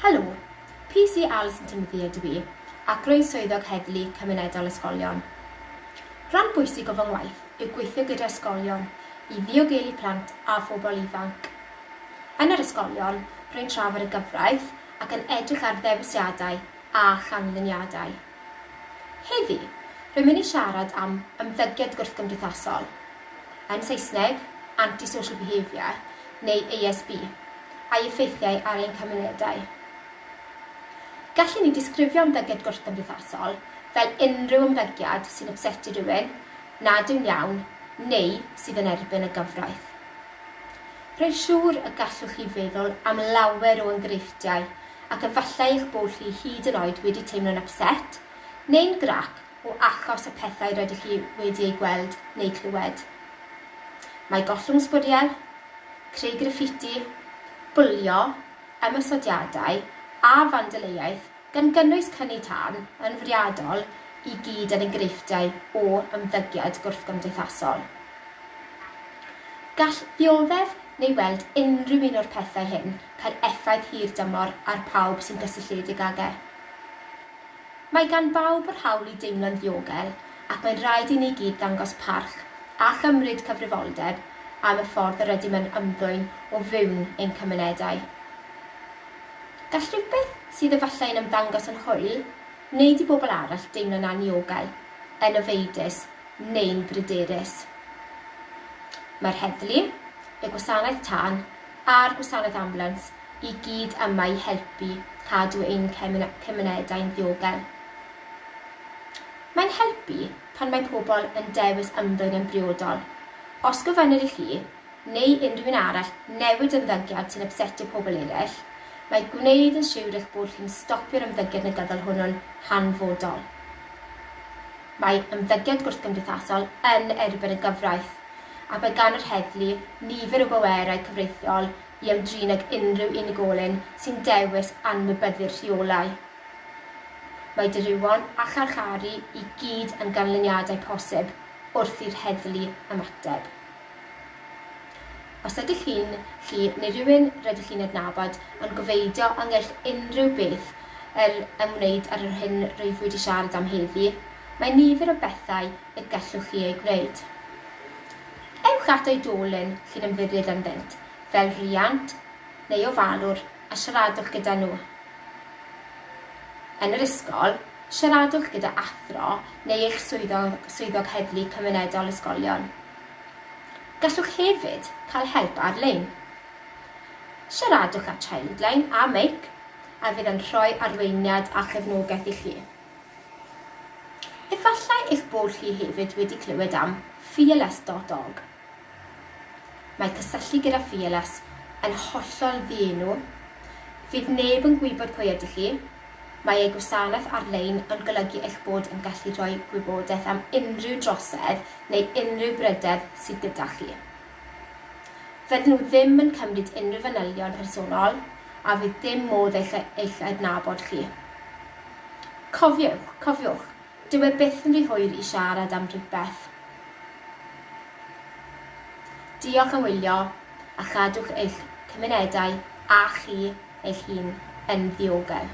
Helo! PC Alison Timothy ydw i, ac rwy'n Swyddog Heddlu Cymunedol Ysgolion. Rhan bwysig o fy ngwaith yw gweithio gyda ysgolion i ddiogelu plant a phobl ifanc. Yn yr ysgolion, rwy'n trafod y gyfraith ac yn edrych ar ddewisiadau a chanlyniadau. Heddi, rwy'n mynd i siarad am ymddygiad gwrthgymdeithasol, yn Saesneg, anti-social behaviour, neu ASB, a'i effeithiau ar ein cymunedau. Gallwn ni disgrifio ymddygiad gwrthgymdeithasol fel unrhyw ymddygiad sy'n ypsetu rhywun, nad yw'n iawn, neu sydd yn erbyn y gyfraith. Rwy'n siŵr y gallwch chi feddwl am lawer o enghreifftiau ac efallai eich bod chi hyd yn oed wedi teimlo'n ypset, neu'n grac o achos y pethau rydych chi wedi eu gweld neu clywed. Mae gollwng sbwriel, creu graffiti, bwlio, ymosodiadau a fandaleiaeth, gan gynnwys cynnu tân, yn fwriadol i gyd yn enghreifftiau o ymddygiad gwrthgymdeithasol. Gall ddioddef neu weld unrhyw un o'r pethau hyn cael effaith hirdymor ar pawb sy'n gysylltiedig ag e. Mae gan bawb yr hawl i deimlo'n ddiogel ac mae'n rhaid i ni gyd ddangos parch a chymryd cyfrifoldeb am y ffordd yr ydym yn ymddwyn o fewn ein cymunedau. Gall rhywbeth sydd efallai yn ymddangos yn hwyl wneud i bobl arall deimlo'n anniogel, yn ofeidus neu'n bryderus. Mae'r heddlu, y gwasanaeth tân, a'r gwasanaeth ambiwlans i gyd yma i helpu cadw ein cymunedau'n ddiogel. Mae'n helpu pan mae pobl yn dewis ymddwyn yn briodol. Os gofynnir i chi, neu unrhyw un arall, newid ymddygiad sy'n ypsetio pobl eraill, mae gwneud yn siwr eich bod chi'n stopio'r ymddygiad negyddol hwnnw'n hanfodol. Mae ymddygiad gwrthgymdeithasol yn erbyn y gyfraith. a bydd gan yr heddlu nifer o bwerau cyfreithiol i ymdrin ag unrhyw unigolyn sy'n dewis anwybyddu'r rheolau. Mae dirywon a charcharu i gyd yn ganlyniadau posib wrth i'r heddlu ymateb. Os ydych chi'n, chi neu rywun rydych chi'n adnabod yn gwfeidio ynghylch unrhyw beth yr ymwneud â'r yr hyn rwyf wedi siarad am heddi, mae nifer o bethau y gallwch chi ei gwneud. Ewch at oedolyn chi'n ymddiried ynddynt, fel rhiant neu ofalwr a siaradwch gyda nhw. Yn yr ysgol, siaradwch gyda athro neu eich swyddog, swyddog heddlu cymunedol ysgolion. Gallwch hefyd cael help ar-lein. Siaradwch â Childline a Meic a fydd yn rhoi arweiniad a chefnogaeth i chi. Efallai eich bod chi hefyd wedi clywed am Fearless dot org. Mae cysylltu gyda Fearless yn hollol ddienw. Fydd neb yn gwybod pwy ydych chi. Mae eu gwasanaeth ar-lein yn golygu eich bod yn gallu rhoi gwybodaeth am unrhyw drosedd neu unrhyw bryder sydd gyda chi. Fydden nhw ddim yn cymryd unrhyw fanylion personol a fydd dim modd eich eich adnabod chi. Cofiwch, cofiwch, dyw e byth yn rhy hwyr i siarad am rywbeth. Diolch am wylio a chadwch eich cymunedau a chi eich hun yn ddiogel.